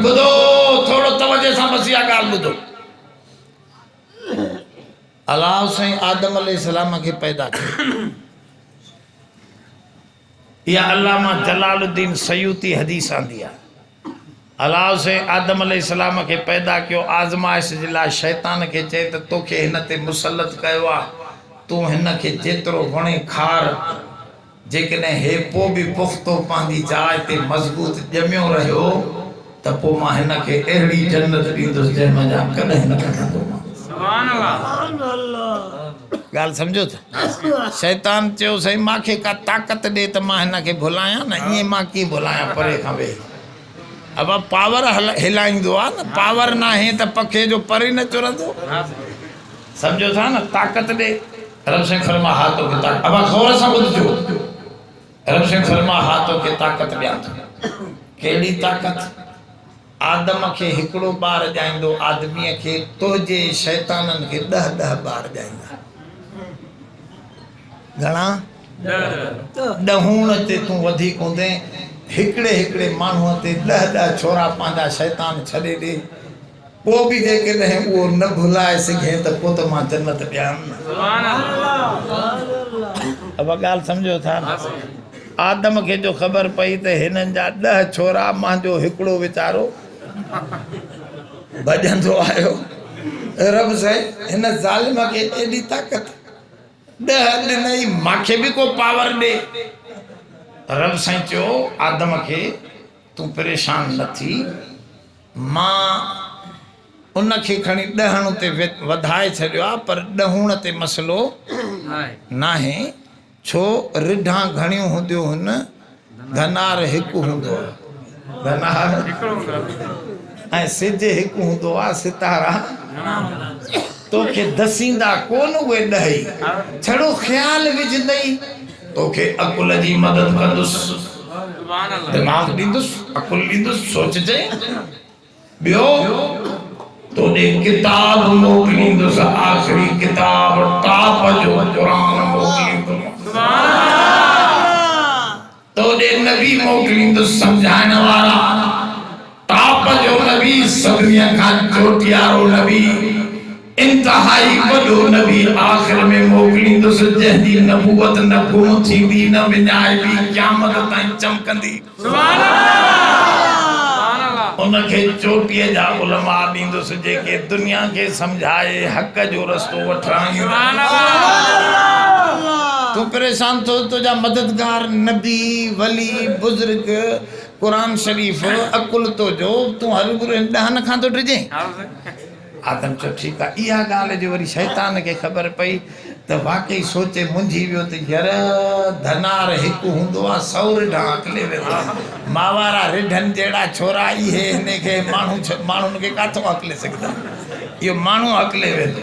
ٻڌو، ٿورو توجهه سان بس اها ڳالهه ٻڌو. الله سائين آدم عليه السلام کي پيدا ڪيو. اها علامه جلال الدين سيوطي حديث آندي آهي. الله سائين آدم عليه السلام کي پيدا ڪيو، آزمائش جي لاء شيطان کي چئي ته توکي هن تي مسلط ڪيو آهي، تون هن کي جيترو وڻين کار. جيڪڏهن هي پوء به پختو پنهنجي جاء تي مضبوط ڄميو رهيو ته پوء مان هن کي اهڙي جنت ڏيندس جنهن منجهان ڪڏهن نه ڪڍندومانس. ڳالهه سمجهو ٿا؟ شيطان چيو سائين مان کي ڪا طاقت ڏي ته مان هن کي ڀلايان نه ائين مان ڪيئن ڀلايان پري کان ويهي ابا پاور هلائيندو آهي نه پاور ناهي ته پکي جو پر ئي نه چرندو سمجهو ٿا نه طاقت ڏي. رب سائين فرما ها توکي طاقت ابا غور سان ٻڌجو رب سائين فرما ها توکي طاقت ڏيان ٿو ڪهڙي طاقت آدم کي هڪڙو ٻار ڄائيندو آدمي کي تنهنجي شيطانن کي ڏه ڏه ٻار ڄائيندا گھڻا ڏهون تي تون وڌيڪ هوندين هڪڙي هڪڙي ماڻهو تي ڏه ڏه ڇورا پنهنجا شيطان ڇڏي ڏي پوء به جيڪڏهن اهو نه ڀلائي سگهين ته پوء ته مان جنت ڏيان نه. اها ڳالهه سمجهو ٿا نه؟ آدم کي جو خبر پئي ته هنن جا ڏهه ڇورا مان جو هڪڙو ويچارو ڀڄندو آيو، رب سائين هن ظالم کي ايڏي طاقت ڏهه ڏنئي مان کي به ڪو پاور ڏي. رب سائين چيو آدم کي تون پريشان نه ٿي مان ان کي کڻي ڏهڻ تي وڌائي ڇڏيو آهي پر ڏهوڻ تي مسئلو ناهي ڇو رڍان گهڻيون هونديون هن ڌنار هڪ هوندو آهي ڌنار ۽ سج هڪ هوندو آهي ستارا توکي دسيندا ڪون اهي ڏهي ڇڙو خيال وجهندئي توکي عقل جي مدد ڪندس دماغ ڏيندس عقل ڏيندس سوچجين ٻيو توڏي ڪتاب موڪليندس آخري ڪتاب ٽاپ جو قرآن موڪليندس توڏي نبي موڪليندس سمجھائڻ وارا ٽاپ جو نبي سڀني کان چوٽيارو نبي انتهائي وڏو نبي آخر ۾ موڪليندس جنهن جي نبوت نه گم ٿيندي نه وڃائبي قيامت تائين چمڪندي ان کي چوٽيء جا علماء ڏيندس جيڪي دنيا کي سمجهائي حق جو رستو وٺرائين تون پريشان ٿو تنهنجا مددگار نبي ولي بزرگ قرآن شريف عقل تو جو تون هروڀرو هن ڏهن کان ٿو ڊڄين آدم چيو ٺيڪ آ اها ڳالهه جو وري شيطان کي خبر پئي ته واقعي سوچي منجهي ويو ته ير ڌنار هڪ هوندو آ سئو رڍا اڪلي ويندو آ ماوارا رڍن جهڙا ڇورا اهي هن کي ماڻهو ماڻهن کي ڪاٿو اڪلي سگهندا اهو ماڻهو اڪلي ويندو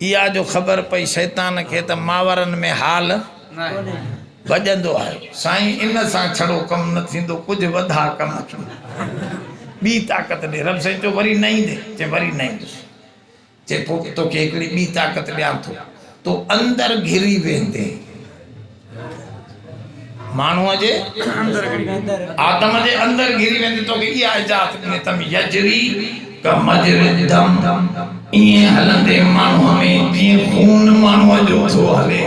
اها جو خبر پئي شيطان کي ته ماورن ۾ حال ڀڄندو آهي. سائين ان سان ڇڙو ڪم نه ٿيندو ڪجهه وڌا ڪم اچون ٻي طاقت ڏي رب سائين چيو وري نه ايندي چي وري نه ايندس چي پوء توکي هڪڙي ٻي طاقت ڏيان ٿو تو اندر گهري ويندين. ماڻهوء جي آدم جي اندر گهري ويندي توکي اها اجازت ڏني تم يجري ڪمجري الدم ائين هلندي ماڻهوء ۾ جيئن خون ماڻهوء جو ٿو هلي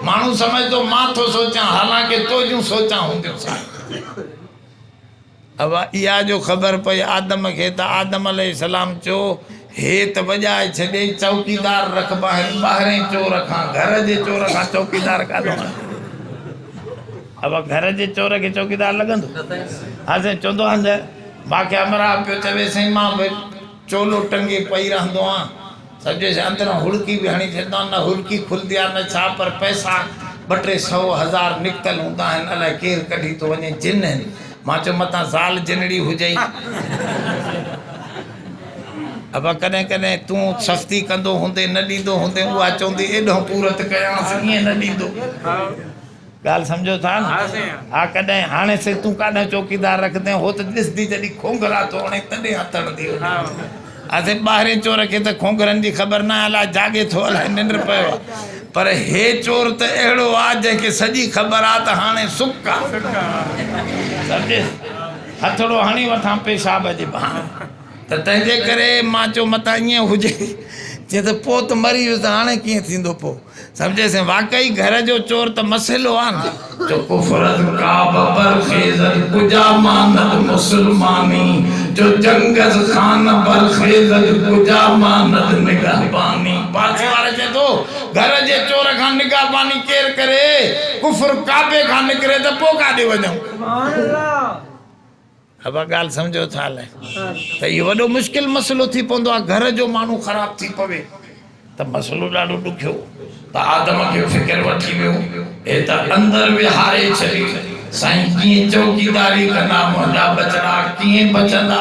ماڻهو سمجهندو مان ٿو سوچيان حالانڪه تنهنجون سوچان هونديون سائين اوا اها جو خبر پئي آدم کي ته آدم عليه السلام چو هي ته وڄائي ڇڏي چوڪيدار رکبانهن ٻاهرين چور کان گهر جي چور کان چوڪيدار ڪاڏو آندي اوا گهر جي چور کي چوڪيدار لڳندو ها سائين چوندو آهن ته ماکي امرا پيو چوي سائين مان به چولو ٽنگي پئي رهندو آن سو جيسين اندران هڙڪي به هڻي ڇڏيندا آن نه هڙڪي کلندي آن نه ڇا پر پئسا ٻه ٽي سئو هزار نڪتل هوندا آهن الائي ڪير ڪڍي ٿو وڃي جن هن مان چيو متان زال جنڙي هجئي ابا ڪڏهن ڪڏهن تون سستي ڪندو هوندين نه ڏيندو هوندين اها چوندي ايڏهن پورت ڪيانس ائين نه ڏيندو ڳالهه سمجهو ٿا نه؟ ها ڪڏهن هاڻي سي تون ڪاڏانهن چوڪيدار رکندين هو ته ڏسندي جڏهن کونگهرا ٿو هڻي تڏهن هٿ هڻندي هئي ها سي ٻاهرين چور کي ته کونگهرن جي خبر نه آهي الاء جاڳي ٿو الاء ننڊ پيو آهي پر هي چور ته اهڙو آهي جنهن کي سڄي خبر آهي ته هاڻي سڪ آهي سمجهيس هٿڙو هڻي وٺان پيشاب جي بهاني ته تنهنجي ڪري مان چيو متان ائين هجي چي ته پوء ته مري ويس ته هاڻي ڪيئن ٿيندو پوء سمجهي سين واقعي گهر جو چور ته مسهلو آن. جو ڪفرت ڪعبه بر خيزد ڪجا ماند مسلماني جو جنگز خان بر خيزد ڪجا ماند نگهباني. پاڇي واري چئي ٿو گهر جي چور کان نگهباني ڪير ڪري ڪفر ڪعبي کان نڪري ته پوء ڪاڏي وڃون. اها ڳالهه سمجهو ٿا الائي ته اهو وڏو مشڪل مسئلو ٿي پوندو آهي گهر جو ماڻهو خراب ٿي پوي ته مسئلو ڏاڍو ڏکيو ته آدم کي فڪر وٺي ويو هي ته اندر ويهاري ڇڏي سائين ڪيئن چوڪيداري ڪندا منهنجا ٻچڙا ڪيئن بچندا.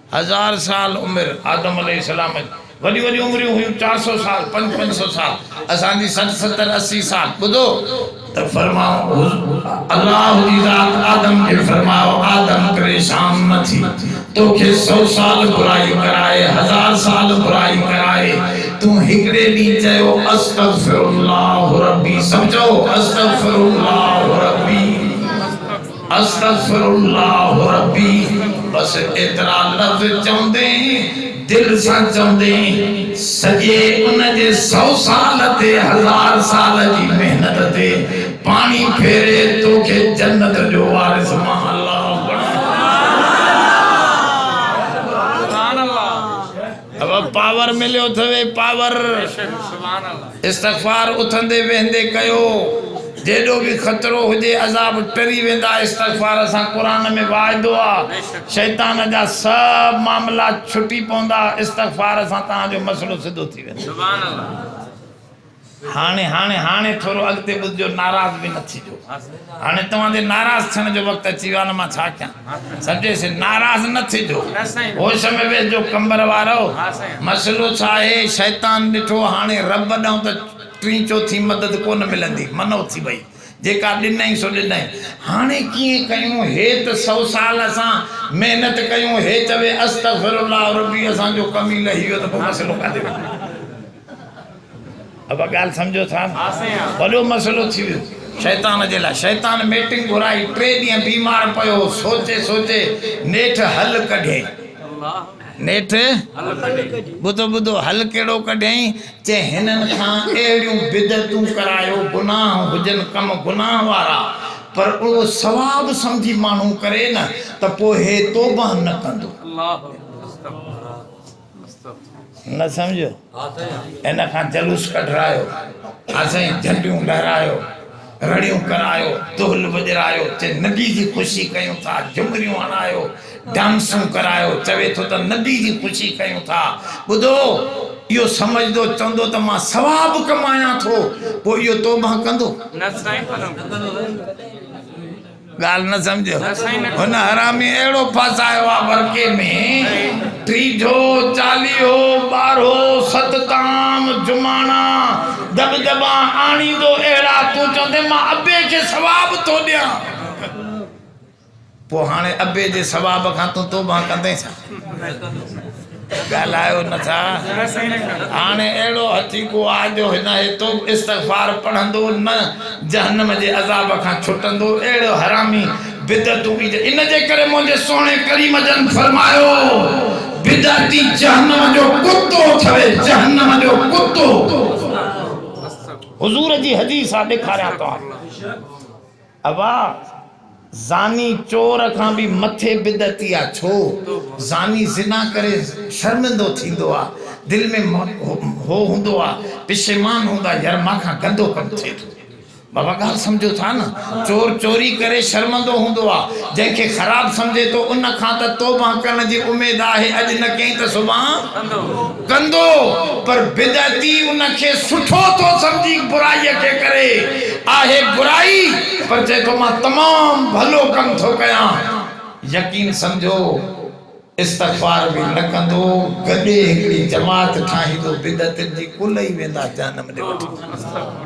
هزار سال عمر آدم عليه السلام جي وڏيون وڏيون عمريون هيون چار سو سال پنج پنج سو سال اسان جي سٺ ستر اسي سال ٻڌو ته فرماء الله جي ذات آدم کي فرماء آدم پريشان نه ٿي توکي سو سال برائي ڪرائي هزار سال برائي ڪرائي تون هڪڙي ڏينهن چيو استغفر الله ربي سڀ چئو استغفر الله ربي. استغفر الله ربي بس ايترا لفظ چوندي دل سان چوندي سڄي ان جي سئو سال تي هزار سال جي محنت تي پاڻي ڦيري توکي جنت جو وارث مان الله بڻائي. ابا پاور مليو ٿوي پاور استغفار اٿندي ويهندي ڪيو جيڏو به خطرو هجي عذاب ٽري ويندا استغفار سان قرآن ۾ واعدو آ شيطان جا سڀ معاملا ڇٽي پوندا استغفار سان توهان جو مسئلو سڌو ٿي ويندو. هاڻي هاڻي هاڻي ٿورو اڳتي ٻڌجو ناراض به نه ٿيجو هاڻي توهان جي ناراض ٿيڻ جو وقت اچي ويو آهي نه مان ڇا ڪيان سڏيس ناراض نه ٿيجو هوش ۾ ويهجو قمبر وارو مسئلو ڇا آهي شيطان ڏٺو هاڻي رب ڏانهن ته ٽين چوٿين مدد ڪونه ملندي من اٿي وئي جيڪا ڏنائين سو ڏنائين هاڻي ڪيئن ڪيون هي ته سو سال اسان محنت ڪيون هي چوي استغفرالله ربي اسان جو ڪم ئي لهي ويو ته پوء مسئلو ڪاڏي وڃي ابا ڳالهه سمجهو ٿا نه وڏو مسئلو ٿي ويو شيطان جي لاء شيطان ميٽنگ گهرائي ٽي ڏينهن بيمار پيو هو سوچي سوچي نيٺ حل ڪڍيائين نيٺ ٻڌو ٻڌو حل ڪهڙو ڪڍيائين چي هنن کان اهڙيون بدعتون ڪرايو گناهه هجن ڪم گناهه وارا پر اهو ثواب سمجهي ماڻهو ڪري نه ته پوء هي توبه نه ڪندو نه سمجهيو ان کان جلوس ڪڍرايو ها سائين جهنڊيون لهرايو رڙيون ڪرايو دهل وڄرايو چي نبي جي خوشي ڪيون ٿا جهمريون هڻايو ڊانسون ڪرايو چوي ٿو ته نبي جي خوشي ڪيون ٿا ٻڌو اهو سمجهندو چوندو ته مان ثواب ڪمايان ٿو پوء اهو توبه ڪندو نه سائين ڳالهه نه سمجهيو هن حرامي اهڙو ڦاسايو آ ورڪي ۾ ٽيجهو چاليهو ٻارهو ستتام جماڻا دٻ دٻان آڻيندو اهڙا تون چوندين مان ابي کي ثواب ٿو ڏيان پوء هاڻي ابي جي ثواب کان تون توبهان ڪندين ڇا؟ ڳالهايو نه ٿا هاڻي اهڙو هٿي ڪو آ جو هن ايتو استغفار پڙهندو نه جهنم جي عذاب کان ڇٽندو اهڙو حرامي بدعتون پي جي ان جي ڪري منهنجي سهڻي ڪريم جن فرمايو بدعتي جهنم جو ڪتو اٿوي جهنم جو ڪتو حضور جي حديث آ ڏيکاريان توهان کي. ابا زاني چور کان به مٿي بدعتي آ ڇو زاني زنا ڪري شرمندو ٿيندو آ دل ۾ هو هوندو آ پشيمان هوندا ير مان کان گندو ڪم ٿئي ٿو بابا ڳالھ سمجهو ٿا نه چور چوري ڪري شرمندو هوندو آ جنهن کي خراب سمجهي ٿو ان کان ته توبه ڪرڻ جي اميد آهي اڄ نه ڪئين ته سڀان ڪندو پر بدعتي ان کي سٺو ٿو سمجهي برائي کي ڪري آهي برائي پر چئي ٿو مان تمام ڀلو ڪم ٿو ڪيان يقين سمجهو استغفار به نه ڪندو گڏي هڪڙي جماعت ٺاهيندو بدعتين جي ڪل ئي ويندا جهنم ڏي وٺي.